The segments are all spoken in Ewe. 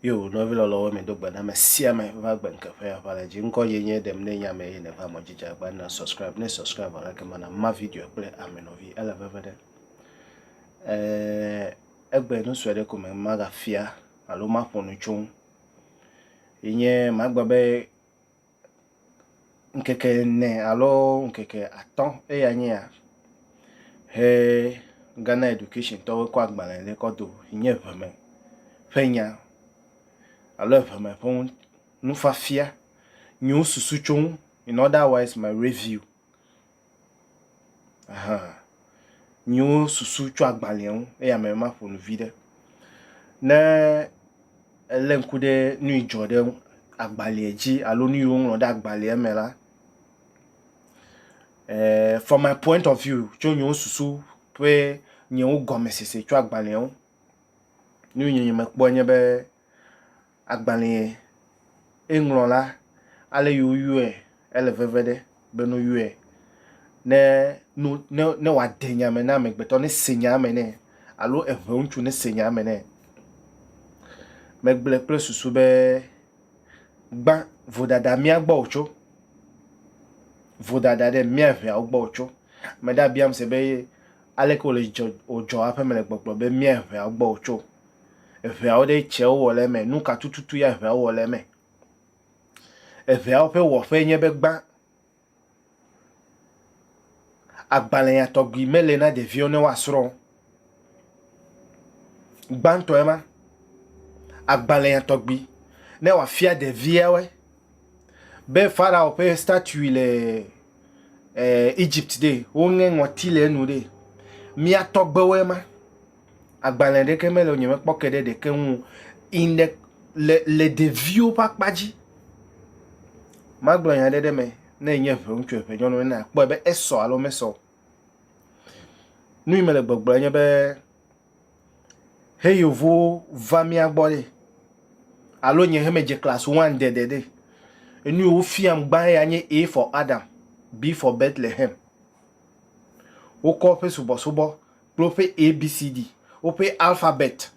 Yo nɔvi lɔlɔwo mi do gbe na me sia me va gbe nke ƒe aʋa le dzi ŋkɔ ye nye ɖem ne nya me ye ne va mɔ jija gba na subscribe ne subscribe ala ke mana ma video kple ame nɔvi ele veve ɖe eh egbe nu sue ɖe ko me maga fia alo ma ƒonu tso ye nye magba be ŋkeke ene alo ŋkeke atɔ̃ eya nye ya he Ghana Education tɔwo kɔ agbalẽ ɖe kɔ do yi nye ŋeme ƒe nya alo ŋeme ƒe nufiafia yi nye susu tso ŋu in other wise my review. Aha. Nyiwo susu tso agbalẽa ŋu eye ame ma ƒo nu vi ɖe. Ne elé ŋku ɖe nu yi dzɔ ɖe agbalẽa dzi alo nu yi woŋlɔ ɖe agbalẽa me la, eh, from my point of view, tso nyiwo susu ƒe nyiwo gɔmesese tso agbalẽa ŋu, nu yi nye mekpɔe nye be, agbalẽe eŋlɔ la, ale yi woyɔe ele veve ɖe be no yɔe ne no ne ne wòade nya me na amegbetɔ ne se nya me nɛ alo eŋe ŋutsu ne se nya me nɛ. Megblɔe kple susu be gbã vodada mía gbɔ wòtso vodada ɖe mía ʋeawo gbɔ wòtso. Ame ɖe abiam se be aleke wòle dzɔ wòdzɔ aƒeme le gbɔgblɔ be mía ʋeawo gbɔ wòtso Eŋeawo ɖe tsɛ wowɔ le eme? Nu ka tututu ya eŋeawo wɔ le eme? Eŋeawo ƒe wɔƒee nye be gbã. Agbalẽa tɔgbi mele na ɖeviwo ne woasrɔ̃ o. Gbãtɔe ma. Agbalẽa tɔgbi ne wòafia ɖeviawoe be Farao ƒe statui le Egypt ɖe, woŋe ŋɔti le enu ɖe. Mía tɔgbewoe ma. agbalẽ ɖeke mele o, nyemekpɔ ke ɖe ɖeke ŋu o. In the, le, le ɖeviwo ƒe akpa dzi, magblɔ nya ɖe ɖe me, ne enye ʋe ŋutsu ʋe nyɔnu ene akpɔe be esɔ alo mesɔ o. Nu yi mele gbɔgblɔ enye be, he yevuwo va mía gbɔ ɖe, alo nye he medze class one and dede ɖe, enu yi wofiam gbã ya nye A for Adam, B for Bethlehem. Wokɔ woƒe subɔsubɔ kple woƒe ABCD, woƒe alphabet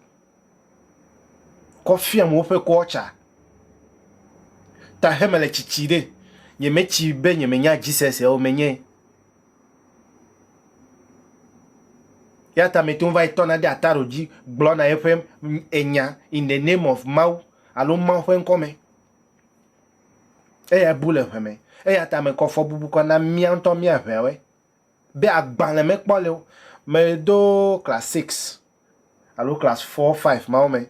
kɔ fiam woƒe culture. Ta he mele tsitsi ɖe, nyemetsi be nyemenya Jesus ya o, menyae. Ya ta mete ŋu va yi tɔna ɖe ataro dzi gblɔna eƒe enya in the name of Mawu alo Mawu ƒe ŋkɔ me. Eya bu le ʋe me. Eya ta mekɔ fɔbubu kɔ na mía ŋutɔ mía ʋeawe. be agbalẽ mekpɔ le wo. Medo class six alo class four, five mawo me.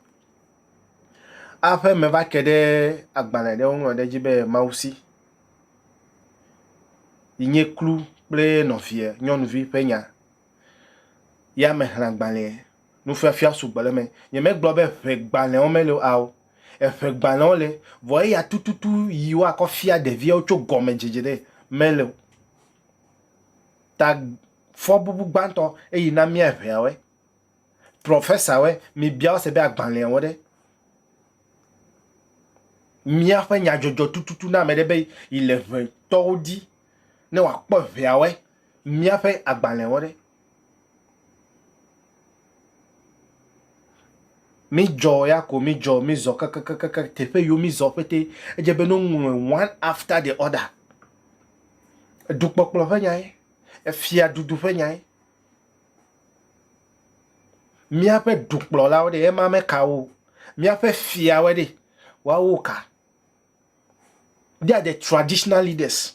Aƒe meva ke ɖe agbalẽ ɖe woŋlɔ ɖe edzi be Mawusi yi nye kplu kple nɔvia nyɔnuvi ƒe nya. Ya mexlẽ agbalẽ. Nufiafia sugbɔ le eme. Nyemegblɔ be eŋegbalẽwo meli o, ao, eŋegbalẽwo le vɔ eya tututu yi woakɔ fia ɖeviawo tso gɔmedzedze ɖe meli o. ta fɔbubu gbãtɔ eyi na mía ʋɛawe, profesawe, mibia wo se be agbalẽawo ɖe. Míaƒe nyadzɔdzɔ tututu na ame ɖe be yi le ʋɛ tɔwo di ne wòakpɔ ʋɛawe, míaƒe agbalẽawo ɖe. Mi dzɔ ya ko mi dzɔ mi zɔ kakakakaka teƒe yiwo mi zɔ ƒete edze be no ŋlɔe one after the other. Edukpɔkplɔ ƒe nyae, efiaɖuɖu ƒe nyae. Míaƒe dukplɔlawo ɖe, ema meka wo o. Míaƒe fiawoe ɖe, woawo ka? They are the traditional leaders.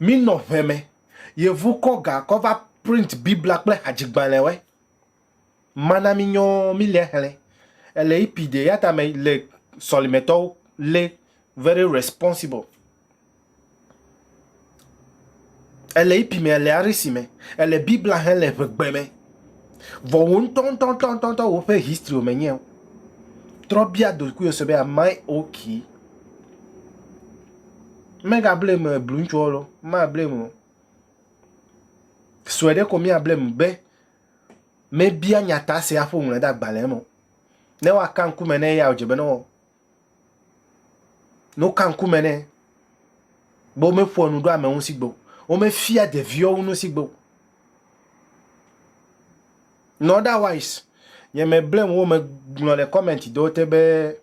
Mínɔ ŋe me, yevu kɔ ga kɔ va print Biblia kple hadzigbalẽwoe. mana mi nyɔ mi le hlɛ ele ipi de yata me le sɔlimetɔ le very responsible ele ipi me ele arisi me ele bibla hɛn le ʋegbe me vɔ wo ŋutɔ ŋutɔ ŋutɔ ŋutɔ ŋutɔ wo ƒe history me nyɛ trɔ bia dokui ose be am i okay mega blame eblu ŋutsuɔ lo ma blame o sue ɖe ko mia blame be mebia nyata sia hafi wòŋlɔe de agbalẽ me o. Ne woaka ŋkume ne eya wòdze be ne wɔ. Ne woka ŋkume ne be womeƒoa nu ɖo ame ŋu si gbe o. Womefia ɖeviwo nu si gbe o. In otherwise, nye meblem wo megblɔ le comment ɖewo te be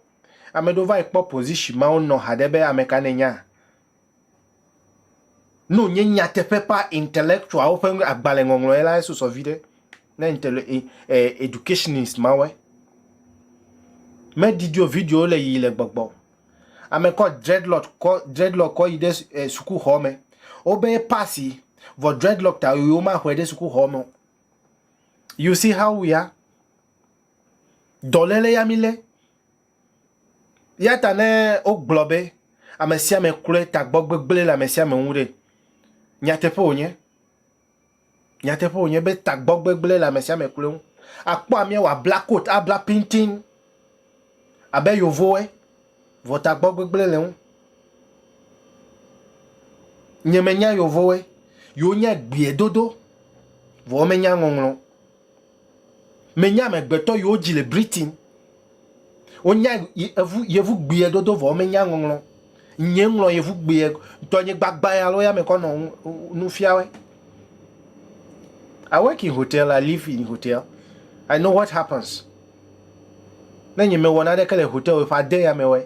ame ɖewo va yi kpɔ position ma wonɔ haɖe be ame ka nènya. Ne wònye nyateƒeƒa intellectualwo ƒe nu- agbalẽŋɔŋlɔe la, esusɔ viɖe ne intele- e- e- educationist mawoe. Medidi o, videowo le yiyi le gbɔgbɔ. Ame kɔ dreadlock kɔ dreadlock kɔ yi ɖe s- e, sukuxɔ me. Wobe ye pasi vɔ dreadlock ta yi womaxɔe ɖe sukuxɔ me o. You see how we are? Dɔléle ya mílé. Eya ta ne wogblɔ be ame sia ame kloe tagbɔ gbegblẽ le ame sia ame ŋu ɖe, nyateƒe wònye. Nyateƒe wònye be tagbɔ gbegblẽ le ame sia ame kloe ŋu. Akpɔ amea wòabla kot, abla pintin abe yovowoe, vɔ tagbɔ gbegblẽ le ŋu. Nye menya yovowoe, yewo nya gbie dodo, vɔ womenya ŋɔŋlɔ o. Menye amegbetɔ yi wodzi le Britain. Wonya evu yevu gbiɛ dodo vɔ womenya ŋɔŋlɔ. Nyɛ ŋlɔ yevu gbiɛ tɔnye gbagba ya lo ya me kɔ nɔ nufiawɛ. I work in hotel, I live in hotel. I know what happens. Ne nye mewɔ naneke le hotel ƒe ade ya me wɛ.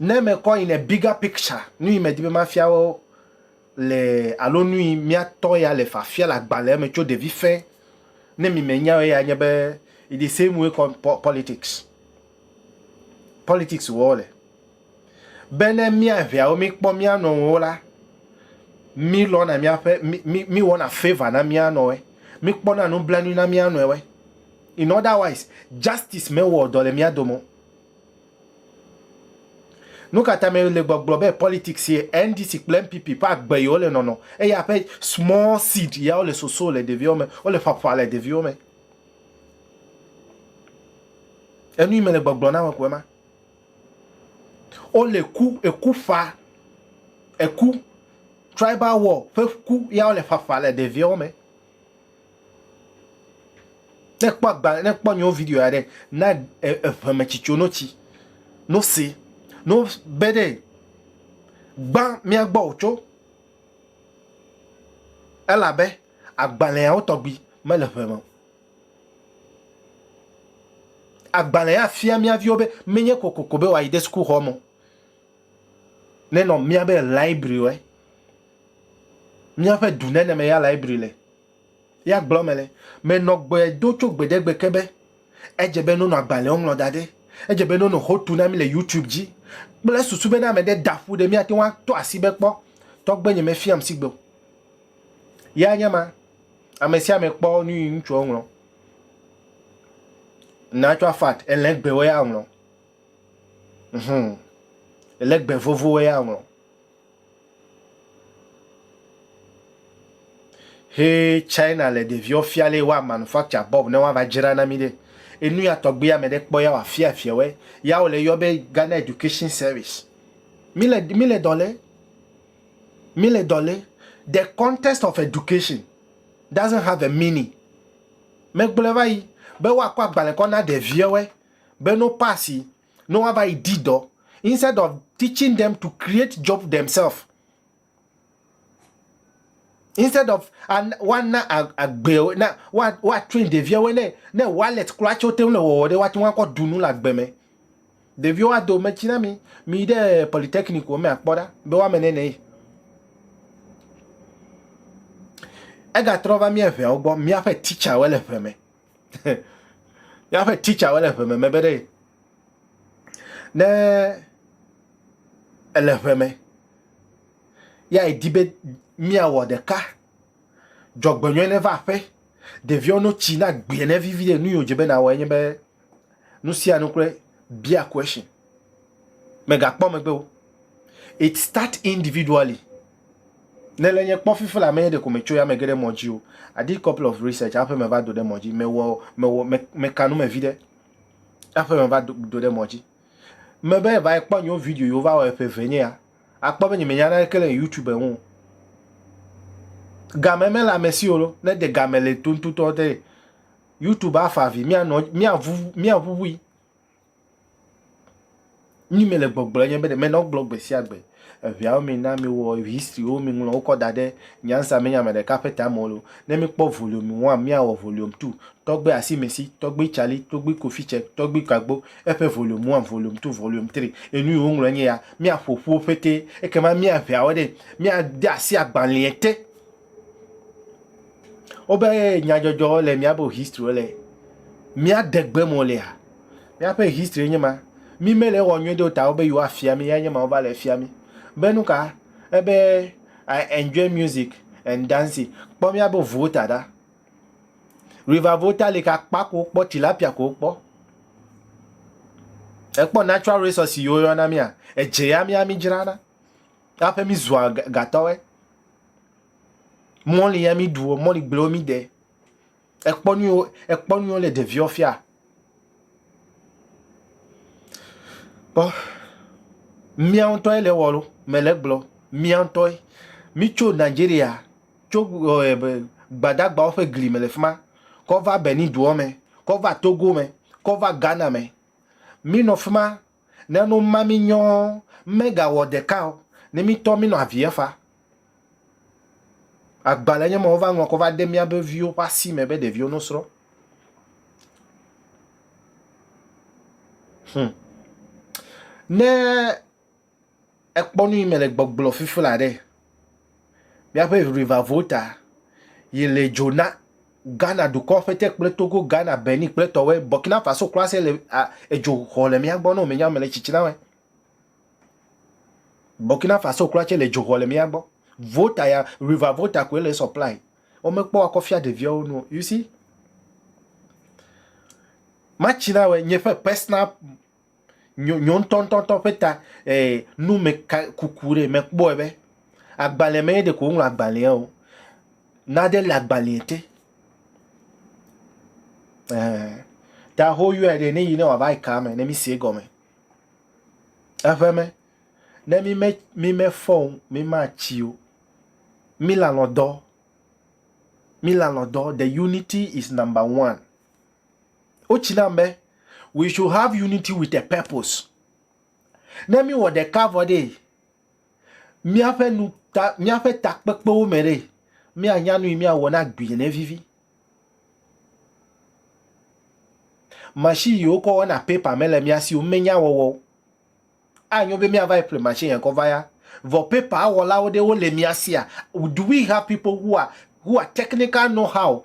Ne mekɔ in a bigger picture, nu yi medi be mafia wo le alo nu yi míatɔ ya le fafia le agbalẽa me tso ɖevi fɛ ne mi menya o ya nye be it the same way kɔ po- politics. Politics wɔ le be ne míaʋeawo míkpɔ mía nɔewo la, mílɔna míaƒe mi- mi- míwɔna favor na mía nɔe, míkpɔna nublanui na mía nɔewe. In otherwise, justice mewɔ dɔ le mía dome o. Nu ka ta me le gbɔgblɔ be politics ye NDC kple NPP ƒe agbe ye wole nɔnɔ eye aƒe small seed ya wole soso le ɖeviwo me, wole ƒaƒa le ɖeviwo me. Enu yi me le gbɔgblɔ na me ko ema. Wole ku, eku ƒa, eku, tribal war ƒe ku ya wole ƒaƒa le ɖeviwo me. Ne ekpɔ agbalẽ, ne ekpɔ nyewo video ya ɖe, na eŋeme tsi tso notsi, no se, no be ɖe gbã mía gbɔ o tso elabe agbalẽawo tɔgbi mele ŋe me o. Agbalẽ ya fia mía viwo be menye kokoko be woayi ɖe sukuxɔ me o. nenɔ míabe library míaƒe du ne me ya library le ya gblɔ me le me nɔ gbe do tso gbe ɖe gbe ke be edze be nɔnɔ agbalẽ wo ŋlɔ da ɖe edze be nɔnɔ ho tu na mi le youtube dzi kple susu be ne ame ɖe da ƒu ɖe mía te ŋu ato asi be kpɔ tɔgbe nye me fiam si gbe o ya nye ma amesiame kpɔ nu yi ŋutsuɔ ŋlɔ na tsɔ afat elɛ gbe wo ya ŋlɔ Hum. Ele gbe vovo eya ŋlɔ. He China le ɖeviwo fia le wa manufacture bob ne wa va dzra na mi ɖe. Enu ya tɔgbe ya me ɖe kpɔ ya wa fia fia we. Ya wo le yɔ be Ghana Education Service. Mi le mi le dɔ le. Mi le dɔ le. The context of education doesn't have a meaning. Me gblɔ va yi be wa kɔ agbalẽ kɔ na ɖeviwo. be no pass yi ne woava yi di dɔ instead of teaching them to create job themselves instead of woana agbe na woatrain ɖeviawo ne ne wallet kura tso te le wɔwɔ ɖe woate ŋu akɔ dunu le agbe me ɖeviwo ado metsi na mi mi ɖe polytechnic wo me akpɔ ɖa be woame ne ne egatrɔ va mía ʋeawo gbɔ míaƒe teacherwo le ʋe me Míaƒe titsawo le ŋeme me be ɖe ne èle ŋeme ya èdi be míawɔ ɖeka, dzɔgbenyui neva aƒe, ɖeviwo no tsi na gbe ne vivi ɖe, nu yi wòdze be nàwɔe nye be nu sia nu kloe, bia question. Mègakpɔ megbe o. It start individually. Nele nye kpɔ fifi la me ɖeko me tso ya me ge ɖe mɔ dzi o. I did couple of research aƒe me va do ɖe mɔ dzi me wɔ me wɔ me me kanu me vi ɖe aƒe me va do do ɖe mɔ dzi me be va kpɔ nyo video yo va wɔ eƒe ve nye ya akpɔ be nye me nyana ke le youtube ŋu game me la me si olo ne de game le tontotɔ de youtube afa vi mia nɔ mia vu mia vu vui. Nyi mele gbɔgblɔ nye be ɖe mele egblɔ gbe sia gbe. Eʋeawo me na mi wɔ history wo mi ŋlɔ wokɔ da ɖe nyansa me nye ame ɖeka ƒe ta me o. Ne mi kpɔ volume one mia wɔ volume two. Tɔgbe Asimesi, tɔgbe Charlie, tɔgbe Kofi Cɛ, tɔgbe Kagbo eƒe volume one, volume two, volume three. Enu yi wo ŋlɔ nye ya. Mia ƒoƒu wo ƒete ekema mia ʋeawo ɖe mia de asi agbalea te. Wobe nyadzɔdzɔ le míaƒe history le míade gbe mo lea? Míaƒe history nye ma. Mi mele wɔ nyuie do ta wobe yewoa fia mi ya nye ma wova le fia mi. Be nu ka? Ebe I enjoy music and dancing. Kpɔ míabe volta ɖa. River volta li ke akpa ko wokpɔ tilapia ko wokpɔ. Ekpɔ natural resources yiwo yɔna mia. Edze ya mia mi dzrana. Aƒe mi zua gatɔwe. Mɔli ya mi ɖuɔ, mɔli gblẽwo mi ɖe. Ekpɔ nuwo, ekpɔ nuwo le ɖeviɔ fia. Kpɔ, mía ŋutɔe le wɔ ɖo, mele gblɔ, mía ŋutɔe. Mi tso Nigeria, tso gbadagbawo ƒe gli me le fi ma, kɔ va Benin duɔ me, kɔ va Togo me, kɔ va Ghana me. Mi nɔ fi ma. Ne nu ma mi nyɔ ɔ, ŋmɛ ga wɔ ɖeka ɔ, ne mi tɔ mi nɔ aviɛ fa. Agbalɛ nyɛ mɔ wo va ŋlɔ kɔ va de mia be viwo ƒe asi mɛ be ɖeviwo no srɔ. Hum. Ne. Ekpɔ nu yi me le gbɔgblɔ fifla ɖe míaƒe ʋiʋivavoo ta yi le dzo na Ghana dukɔ ƒe te kple Togo, Ghana, Benin kple tɔwɔe. Burkina Faso kura se le a edzo xɔ le mía gbɔ ne wòmenya mele tsitsinawɔe. Burkina Faso kura tse le dzo xɔ le mía gbɔ. Vota ya, ʋiʋivavoo ta koe le supply. Womekpɔ akɔ fia ɖeviawo nu o. You see? Matsinawɔe nye ƒe personal Nyo nyo ŋutɔŋutɔŋutɔ ƒe ta eh, nu me ka kuku ɖe mekpɔe be agbalẽ me ye ɖeko woŋlɔ agbalẽa o. Nade le agbalẽa te. Eh, ta hoyɔe ɖe ne yi ne wòava yi kaa me ne mi sie gɔme. Eƒe me, ne mi me mi mefɔ o, mi ma tsi o. Mi lalɔ dɔ. Mi lalɔ dɔ. The unity is number one. Wotsi nam be we should have unity with a purpose. Ne mi wɔ ɖeka vɔ ɖe miaƒe nu ta miaƒe takpekpewo me ɖe mianya nu yi miawɔ na gbi ne vivi. Machine yi wokɔ wɔna paper me le mia si o menya wɔwɔ. Anyo be miava yi ƒle machine yɛn kɔ va ya. Vɔ paper awɔlawo ɖe wole mia sia. Do we have people who are who are technical know how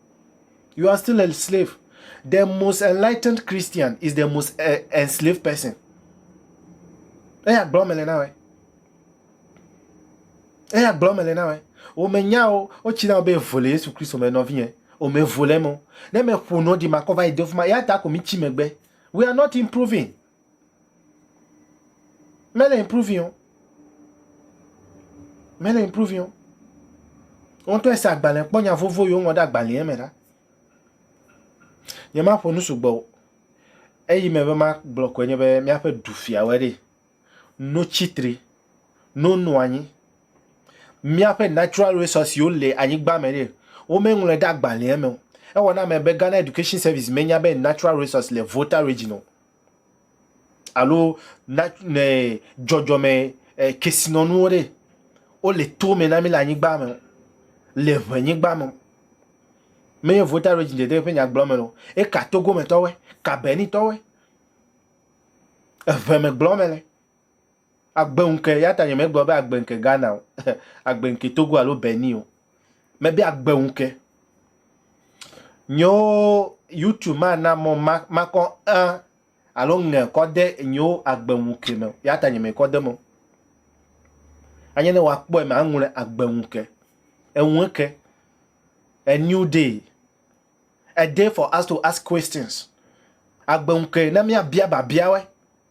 You are still a slave. The most enlightened Christian is the most uh, enslaved person. Eya gblɔ mele na wɛ. Eya gblɔ mele na wɛ. O me nya o, o tsi na o be vole Yesu Kristo me nɔvi yɛ. O me vole mo. Ne me ƒo no di makɔ va yi do fuma. Ya ta ko mi tsi megbe. We are not improving. Mele improving o. Mele improving o. Wo ŋutɔ ese agbalẽ kpɔ nya vovo yi woŋlɔ ɖe agbalẽa me ɖa. Nyemaƒo nu sugbɔ o. Eyi me be magblɔ koe nye be míaƒe dufiawoe ɖee. Notsi tri, nonɔ anyi. Míaƒe natural resources wo le anyigba me ɖe, wo me ŋlɔe ɖe agbalẽa me o. Ewɔ na ame be Ghana Education Service me nya be natural resources le Volta Region o. Alo nat ne dzɔdzɔme eh, kesinɔnuwo ɖe, wo le to me na mi le anyigba me o. Le ʋe nyigba me o. Menye Volta Region dede ƒe nyagblɔ me o. Eka Togo me tɔwoe, ka Benin tɔwoe. Eʋe me gblɔ me le. Agbe ŋke, ya ta nye me gblɔ be agbe ŋke Ghana o, agbe ŋke Togo alo Benin o. Me be agbe ŋke. Nyo YouTube ma na mɔ ma, ma kɔ ŋ alo ŋe kɔ de nyo agbe ŋke me. Ya ta nye me kɔ de mɔ. Anye ne wa kpɔe me aŋle agbe ŋke. Eŋu eke. A new day. A day for us to ask questions. Agbe ŋke na mia bia ba biawe.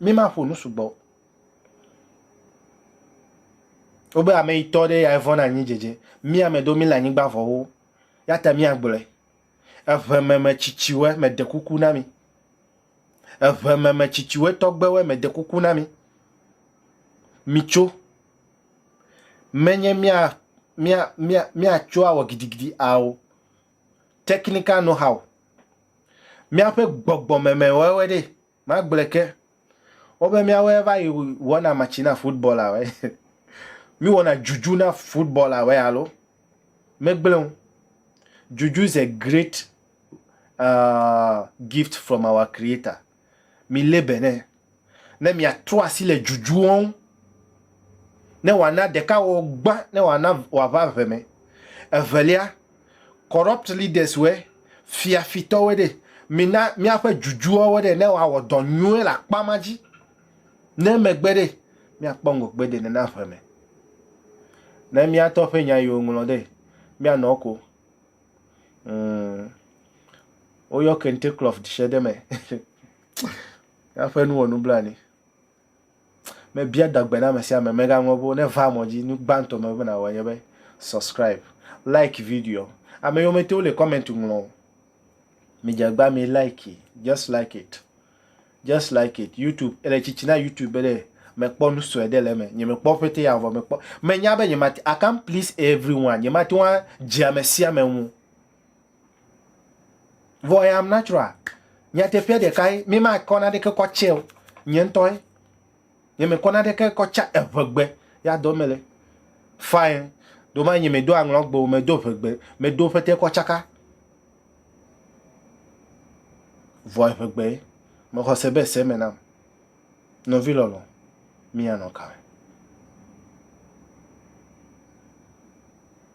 mimaƒo nu sugbɔ o. Wobe ame yi tɔ ɖe ya evɔn anyi dzedze. Mi ame do mi le anyigba vɔwo. Ya ta mi agblɔe. Eʋe me me tsitsiwe me de kuku na mi. Eʋe me me tsitsiwe tɔgbewe me de kuku na mi. Mi tso. Menye mia mia mia mia tso awɔ gidigidi ao. Technical know how. Mia ƒe gbɔgbɔ me me wɔe wɔe ɖe. Magblɔe ke, wobe míawoe va yi wɔna matsi na futbɔlawoe. Míwɔna dzudzu na futbɔlawoe alo? Megblẽ o. Dzudzu is a great uh, gift from our Creator. Milé be nɛ. Ne miatrɔ asi le dzudzuwo ŋu, ne wòana ɖekawɔwɔ gbã, ne wòana wòava ʋe me. Evelia, corrupt leaders wɛ, fia fitɔ wɛ ɖe, mina miaƒe dzudzua wɛ ɖe ne woawɔ dɔ nyuie le akpa ma dzi, ne megbe ɖe miakpɔ ŋgɔgbe de nena ʋe me. Ne miatɔ ƒe nya yiwo ŋlɔ ɖe, mianɔ ko. Mm. Woyɔ kente klɔf dse ɖe me. Miaƒe nu wɔ nublanui. Mebia dagbe na ame sia ame megaŋlɔ be ne va mɔ dzi nu gbãtɔ me be nawɔ nye be subscribe, like video. Ame yiwo mete le comment ŋlɔ o. Mi jagba mi like, just like it. Just like it. YouTube ele tsitsi na YouTube be ɖe mekpɔ nu sue ɖe le eme. Nye mekpɔ pete ya vɔ mekpɔ. Menya be nye mate I can't please everyone. Nye mate ŋu adze ame sia ame ŋu. Vɔ I am natural. Nyateƒea ɖekae, mi ma kɔ na ɖeke kɔ tsɛ o. Nye ŋutɔe. Nye me kɔ na ɖeke kɔ tsa eʋegbe. Ya dɔ me le. Fine. Do ma nye me do aŋlɔ gbe o, me do ʋegbe. Me do ƒete kɔ tsaka. Vɔ eʋegbe. Me xɔ se be se me nam. Nɔvi lɔlɔ. Mi anɔ kame.